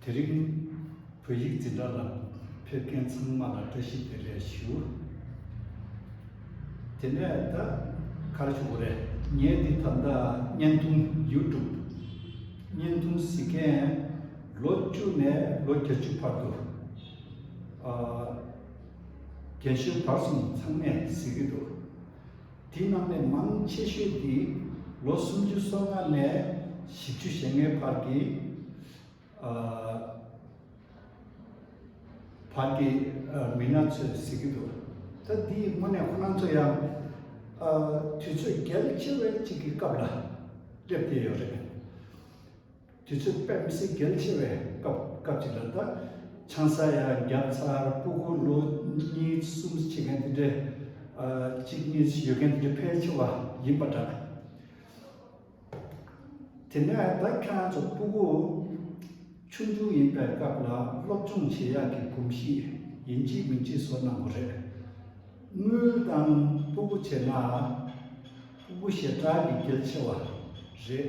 དེ་རིང་བོད་ཡིག་འཛིན་གྲྭ་ལ་ཕེབས་མཁན་ཚང་མ་ལ་བཀྲ་ཤིས་བདེ་ལེགས་ཞུ། དེ་ནས་ད་ག་རེ་བྱུང་བ་རེད། ངས་འདི་ད་ལྟ་བརྙན་ཐུང YouTube བརྙན་ཐུང་གཟིགས་མཁན་ལོ་བཅུ་ནས་ལོ་བརྒྱད་བཅུ་བར་དུ་རྒན་གཞོན་བར་གསུམ་ཚང་མས་གཟིགས་ཀྱི་འདུག། དེ་རྣམས་ལས་མང་ཆེ་ཤོས་ཀྱིས་ལོ་སུམ་ཅུ་སོ་ལྔ་ནས་བཞི་བཅུ་ཞེ་ལྔའི་བར་གྱི་བར་གྱི་མི་སྣ་ཚོས་གཟིགས་ཀྱི་འདུག་ད་འདིའི་སྔོན་ནས་ཁོ་རང་ཚོ་ཡང་དུས་ཚོད་གལ་ཆེ་བའི་ཅིག་གི་སྐབས་ལ་སླེབས་བསྡད་ཡོད་རེད། དུས་ཚོད་དཔེ་མི་སྲིད་གལ་ཆེ་བས་སྐབས་སྐབས་ཅིག་ལ་ད་ཆང་ས་ཡ་བརྒྱ་ཚར་སྤུ་གུ་ལོ་གཉིས་གསུམ་བྱེད་མཁན་དེ་འདྲས་གཅིག་གཉིས་ཡོད་མཁན་དེ་འདྲས་ཕལ་ཆེ་བ་ཡིན་པ་འདྲ། དེ་ནས་ད་ཁྱོད་རང་ཚོ་སྤུ་གུ་ཆུང་ཆུང་ཡིན་པའི་སྐབས་ལ་སློབ་སྦྱོང་བྱེད་ཡག་གི་གོམས་གཤིས་ཡིན་གཅིག་མིན་གཅིག་བཟོ་གནང་གོ་རེད། དངུལ་དང་སྤུ་གུ་བྱེད་ན་སྤུ་གུ་ཞེ་དྲག་གི་གལ་ཆེ་བ་རེད།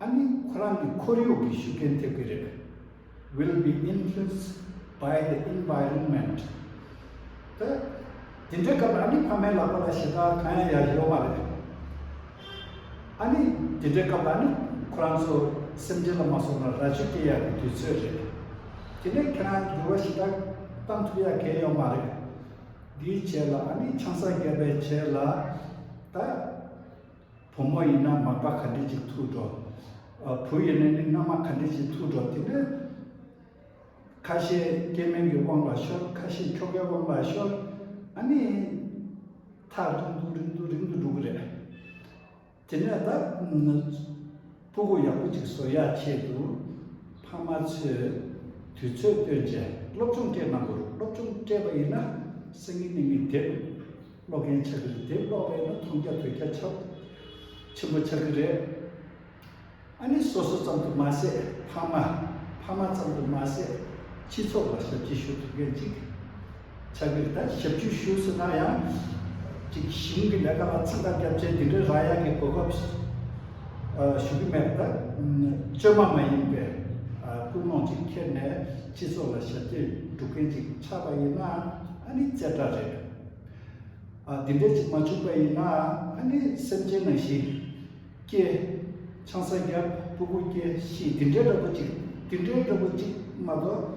ཨ་ནི་ཁོ་རང་གི་ཁོར་ཡུག་གིས་ཤུགས་རྐྱེན་ཐེབས་ཀྱི་རེད Will be influenced by the environment དེ་དེ་འདྲའི་སྐབས་ཨ་ནི་ཕ་མའི་ལག་པ་ལ་ཞེ་དྲག་གང་ཡང་ཡར་ཤོར་མ་རེད། ཨ་ནི་དེ་འདྲའི་སྐབས་ཨ་ནི་ཁོ་རང་ཚོ་སེམས་ཁྲལ་ལ་མ་སོང་བར་རྭ་ཅོ་སྐྱེ་ཡག་གི་དུས་ཚོད་རེད། དེ་ནས་ཁྱེད་རང་འགྱུར་བ་ཞེ་དྲག་གཏང་ཐུབ་ཡག་གལ་ཡོད་མ་རེད། འདིའི་ཆེད་ལ་ཨ་ནི་ཆང་ས་བརྒྱབ་པའི་ཆེད་ལ་ད། བུ་མོ་ཡིན་ན་མག་པ་ག་འདྲི་ཅིག་ཐུག་འགྲོ། བུ་ཡིན་ན་ནི་མནའ་མ་ག་འདྲི་ཅིག་ཐུག་འགྲོ་དེ་ནི། ཁ་ཤས་སྐྱེས་དམན་གྱི་དབང་ལ་ཤོར་ཁ་ཤས་ཁྱོ་གའི་དབང་ལ་ཤོར། ཨ་ནི། ཐག་རིང་དུ་རིང་དུ་རིང་དུ་འགྲོ་གི་རེད། དེ་ནས་ད། སྤུ་གུ་ཡག་པོ་གཅིག་བཟོ་ཡག་ཆེད་དུ། ཕ་མ་ཚོས་དུས་ཚོད་བཏོན་རྗེས་སློབ་སྦྱོང་སྤྲད་གནང་དགོས། སློབ་སྦྱོང་སྤྲད་པ་ཡིན་ན་སང་ཉིན་གཉིས་མི་དེབ་ཀློག་མཁན་ཆགས་ཀྱི་རེད་དེབ་ཀློག་པ་ཡིན་ན་མཐོང་རྒྱ་ཐོས་རྒྱ་ཆ་ཆེན་པོ་ཆགས་ཀྱི་རེད། ཨ་ནེ་སོ་སོ་ཙམ་དུ་མ་ཟད་ཕ་མ་ཕ་མ་ཙམ་དུ་མ་ཟད་སྤྱི་ཚོགས་ལ་ཞབས་ཕྱི་ཞུ་ཐུབ་མཁན་གཅིག་ཆབ་ཡིག་དང་ཞབས་ཞུའི་ཤུལ་སུ་སྣང་ཡང། གཅིག་གཞུང་གི་ལས་ཀ་ལ་ཚིག་དང་སྐྱབས་བཅོལ་འདི་འདྲའི་རང་ཡག་གི་གོ་སྐབས་ཞུ་གི་མེད་པ་བཅོས་མ་མ་ཡིན་པའི་ཀུན་སློང་ཅིག་འཁྱེར་ནས་སྤྱི་ཚོགས་ལ་ཞབས་འདེགས་སྒྲུབ་མཁན་ཅིག་ཆགས་པ་ཡིན་ན་ཨ་ནི་རྩེ་གྲ་རེད། འདི་འདྲས་ཅིག་མ་བྱུང་པ་ཡིན་ན་ཨ་ནི་སེམས་ཅན་ནང་བཞིན་སྐྱེ། ཆང་ས་རྒྱབ་སྤུ་གུ་སྐྱེ་ཞེས་འདི་འདྲའི་འདྲ་པོ་ཅིག་འདི་འདྲའི་འདྲ་པོ་ཅིག་མ་གཏོགས།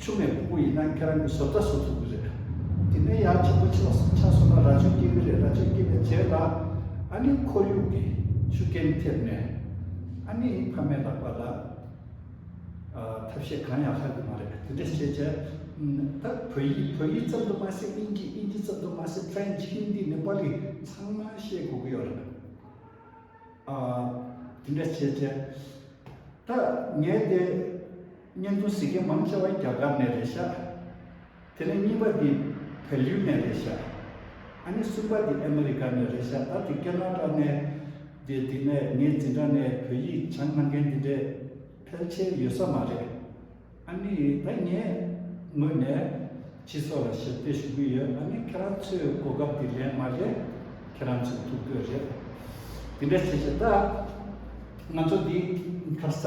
ཆུང་མའི་ཕུ་བོ་ཡིན་ན་ཁྱེད་རང་གི་བཟོ་ལྟ་བཟོ་ཐུབ་ཀྱི་རེད། དེ་ནས་ཡར་ཆེན་པོ་ཆེ་བ་སོགས་ཆགས་སོང་ན་རྭ་ཅོ་སྐྱེས་ཀྱི་རེད་རྭ་ཅོ་སྐྱེས་པའི་རྗེས་ལ། ཨ་ནི་ཁོར་ཡུག་གི་ཤུགས་རྐྱེན་ཐེབས་ནས། ཨ་ནི་ཕ་མའི་ལག་པ་ལ། ཐབས་ཤེས་གང་ཡང་ལྷག་གི་མ་རེད་དེ་འདྲས་བྱས་བྱས། ད་བོད་ཡིག་བོད་ཡིག་ཙམ་དུ་མ་ཟད་དབྱིན་ཇི་དབྱིན་ཇི་ཙམ་དུ་མ་ཟད French Hindi ནེ་པ་ལི་ཚང་མ་ཤེས་དགོས་ཀྱི་ཡོད་རེད། དེ་འདྲས་བྱས་བྱས། ད་ངས་དེ། བརྙན་ཐུང་གཟིགས་མཁན་མང་ཆེ་བ་རྒྱ་གར་ནས་རེད་ཤག་དེ་ནས་གཉིས་པ་དེ་བལ་ཡུལ་ནས་རེད་ཤག་ཨ་ནི་གསུམ་པ་དེ་ཨ་མི་རི་ཀ་ནས་རེད་ཤག་ད་དེ་ཀེ་ན་ར་ནས་དེ་དེ་ནས་ངས་འཛིན་གྲྭ་ནས་བོད་ཡིག་སྦྱང་གནང་མཁན་དེ་འདྲས་ཕལ་ཆེར་ཡོད་ས་མ་རེད་ཨ་ནི་ད་ངས་ངོས་ནས་སྤྱི་ཚོགས་ལ་ཞབས་འདེགས་ཞུ་གི་ཡོད་ཨ་ནི་ཁྱེད་རང་ཚོས་གོ་སྐབས་དེ་ལེན་མ་རེད་ཁྱེད་རང་ཚོས་ཐུག་འདོད་རེད་དེ་འདྲ་བྱེད་བྱེད་ད་ང་ཚོ་དེ་ཁ་ས།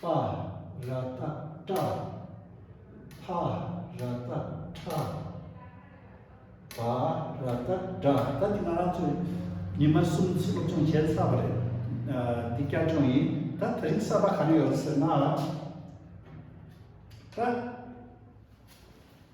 པ་ར་ཏཱ་ཏྲ། བྷ་ར་ཏཱ་ཁྲ། བ་ར་ཏཱ་དྲ། ད་འདི་ང་རང་ཚོས་ཉི་མ་གསུམ་ཚེ་སློབ་སྦྱོང་བྱས་ཚར་བ་རེད། འདི་སྐྱར་སྦྱོང་ཡིན། ད་ད་རིང་གསར་པ་ག་རེ་ཡོད་ཟེར་ན། ཏྲ།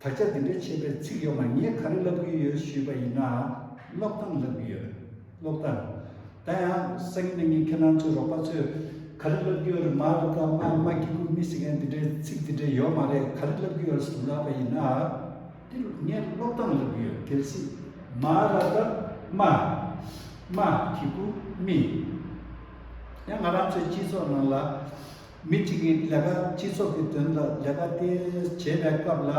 ད་ཆ་འདི་འདྲའི་ཆེ་བའི་ཚིག་ཡོད་མ་ངས་ག་རེ་ལབ་གི་ཡོད་ཞུས་པ་ཡིན་ན། ཀློག་སྟངས་ལབ་གི་ཡོད། ཀློག་སྟངས། ད་ཡང་སང་ཉིན་ནས་ངས་ཁྱེད་རང་ཚོའི་རོགས་པ་ཚོས་ག་རེ་ལབ་གི་ཡོད་རེད་མ་ལབ་ད་མ་མ་གི་ཁུག་མི་སྲིད་མཁན་འདི་འདྲའི་ཚིག་འདི་འདྲའི་ཡོད་མ་རེད་ག་རེ་ལབ་གི་ཡོད་རེད་ཟེར་ལབ་པ་ཡིན་ན། འདིར་ངས་ཀློག་སྟངས་ལབ་གི་ཡོད་གལ་སྲིད། མ་ལབ་ད་མ་མ་གི་ཁུག་མི། ཡང་ང་རང་ཚོའི་སྤྱི་ཚོགས་ནང་ལ། མི་གཅིག་གིས་ལས་ཀ་སྤྱི་ཚོགས་ཀྱི་དོན་དུ་ལས་ཀ་དེ་བྱེད་པའི་སྐབས་ལ།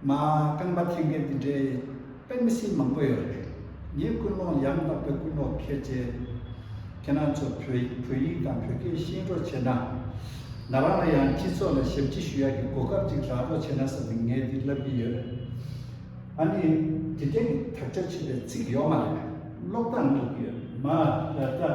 མ་རྐང་པ་འཐེན་མཁན་དེ་འདྲའི་དཔེ་མི་སྲིད་མང་པོ་ཡོད་རེད། ངས་ཀུན་སློང་ཡང་དག་པའི་ཀུན་སློང་ཁྱེར་ཆེ། ཁྱེད་རང་ཚོ་བོད་ཡིག་དང་བོད་སྐད་ཤེས་རོགས་བྱས་ན། ང་རང་ལ་ཡང་སྤྱི་ཚོགས་ལ་ཞབས་ཕྱི་ཞུ་ཡག་གི་གོ་སྐབས་ཅིག་རག་རོགས་བྱས་ན་བསམ་ནས་ངས་འདི་ལབ་ཀྱི་ཡོད། ཨ་ནི། དེ་དེང་གི་དག་ཆ་བྱེད་པའི་ཚིག་ཡོག་མ་རེད། ཀློག་སྟངས་འགྲིག་ཡོད་མ་རེད་ད།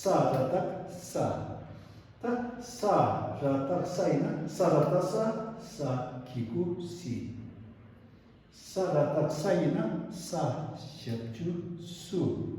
ས་ར་དག་ས། ཏག་ས་ར་དག་ས་ཡིན་ན་ས་ར་ཏག་ས་ས་ཀྱི་སྐུ་སྲི། ས་ར་དག་ས་ཡིན་ན་ས་ཞབས་བཅུ་སུ།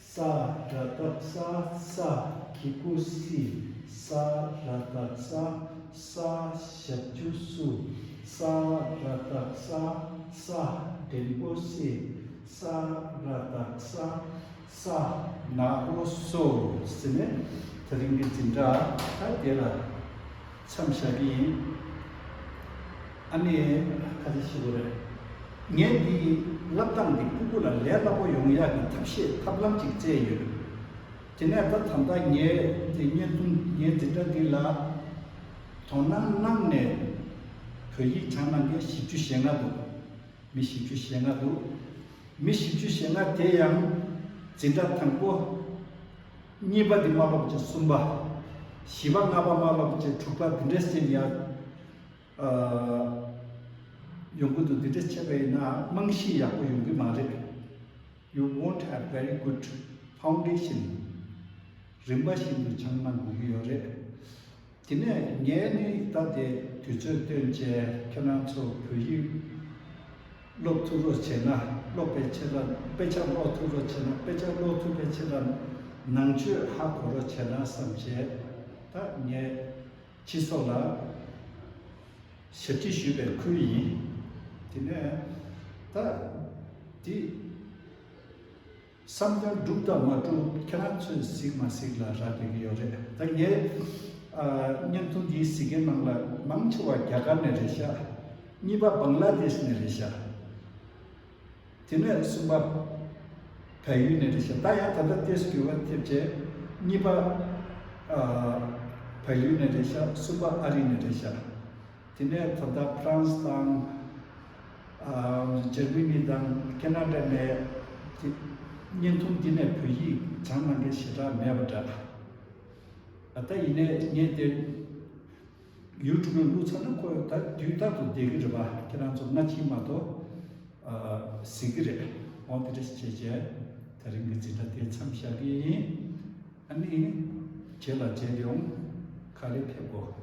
ས་རཱ་དག་ས་ས་ཀི་ཀུ་སི་ས་རཱ་དག་ས་ས་ཞབས་ཀྱུ་སུ་ས་རཱ་དག་ས་ས་དྲེན་པོ་སི་ས་རཱ་དག་ས་ས། ནག་པོ་སོ་ཟེར་ནས་ད་རིང་གི་འཛིན་གྲྭ་ད་དེ་ལ། མཚམས་བཞག་གི་ཡིན། ཨ་ནེ། ཁ་ཆེ་ཞེ་པོ་རེད། ངས་འདི་ཡི་བསླབ་སྟངས་འདི་སྤུ་སྤུ་ལ་ལས་སླ་པོ་ཡོང་ཡག་གི་ཐབས་ཤེས་ཐབས་ལམ་ཅིག་བཙལ་ཡོད། དེ་ནས་ད་ད་ལྟ་ངས་འདི་བརྙན་ཐུང་ངའི་འདི་འདྲ་འདི་ལ་དོ་སྣང་གནང་ནས་བོད་ཡིག་དྲངས་གནང་མཁན་བཞི་བཅུ་ཞེ་ལྔ་འདུག་མི་བཞི་བཅུ་ཞེ་ལྔ་འདུག་མི་བཞི་བཅུ་ཞེ་ལྔ་དེ་ཡང་འཛིན་གྲྭ་དང་པོ། གཉིས་པ་འདི་མ་བབས་ཀྱི་གསུམ་པ། བཞི་པ་ལྔ་པ་མ་བབས་ཀྱི་དྲུག་པ་འདི་འདྲས་ཅན་ཡང། ཡོང་གི་འདུག་འདི་འདྲས་ཆད་པ་ཡིན་ན་རྨང་གཞི་ཡག་པོ་ཡོང་གི་མ་རེད། You won't have very good foundation། རིམ་པ་བཞིན་དུ་བྱང་གནང་དགོས་ཀྱི་ཡོད་རེད། དེ་ནས་ངས་ནི་ད་དེ་དུས་ཚོད་སྟོན་བཅས་ཁྱེད་རང་ཚོ་བོད་ཡིག་ཀློག་ཐུབ་རོགས་བྱས་ན་ཀློག་པའི་ཆེད་ལ་དཔེ་ཆ་ཀློག་ཐུབ་རོགས་བྱས་ན་དཔེ་ཆ་ཀློག་ཐུབ་པའི་ཆེད་ལ་ནང་ཆོས་ཧ་གོ་རོགས་བྱས་ན་བསམ་བྱས་ད་ངས་ཁྱི་སོགས་ལ་ཞབས་ཁྲི་ཞུས་པའི་ཁུལ་ཡིན་དེ་ནས་ད་དེ། བསམ་ཡང་སྒྲུབ་དང་མ་སྒྲུབ་ཁྱེད་རང་ཚོས་གཟིགས་མ་གཟིགས་ལ་རག་དགོས་ཀྱི་ཡོད་རེད་ད་ངས་བརྙན་ཐུང་འདིའི་གཟིགས་མཁན་རྣམས་ལ་མང་ཆེ་བ་རྒྱ་གར་ནས་རེད་ཤག་གཉིས་པ་བང་ལ་རྡེས་ནས་རེད་ཤག་དེ་ནས་གསུམ་པ་བལ་ཡུལ་ནས་རེད་ཤག་ད་ཡང་ད་ལྟ་ཏེས་བསྒྱུར་བ་ཐེབས་རྗེས་གཉིས་པ་བལ་ཡུལ་ནས་རེད་ཤག་གསུམ་པ་ཨ་རི་ནས་རེད་ཤག། དེ་ནས་ད་ལྟ་ཕ་རན་སི་དང། ཇར་མི་ནི་དང་ཀེ་ན་ཏྲ་ནས་བརྙན་ཐུང་འདི་ནས་བོད་ཡིག་སྦྱང་གནང་མཁན་ཞེ་དྲག་མེད་པ་འདྲ། ད་ལྟ་ཡིན་ནས་ངས་དེ་ཡུ་ཏུབ་ལ་བླུགས་ཚར་ན་ཁོ་ད་དུས་རྟག་ཏུ་བསྡད་ཀྱི་རེད་པ་ཁྱེད་རང་ཚོ་སྔ་ཕྱི་མ་གཏོགས། ཟིག་གི་རེད་འོང་དེ་འདྲ་བྱས་བྱས་ད་རིང་གི་འཛིན་གྲྭ་དེ་མཚམས་བཞག་གི་ཡིན། ཨ་ནི། བྱས་ལ་བྱས་ཀྱང་ཁ་ལས་ཐེབས་དགོས།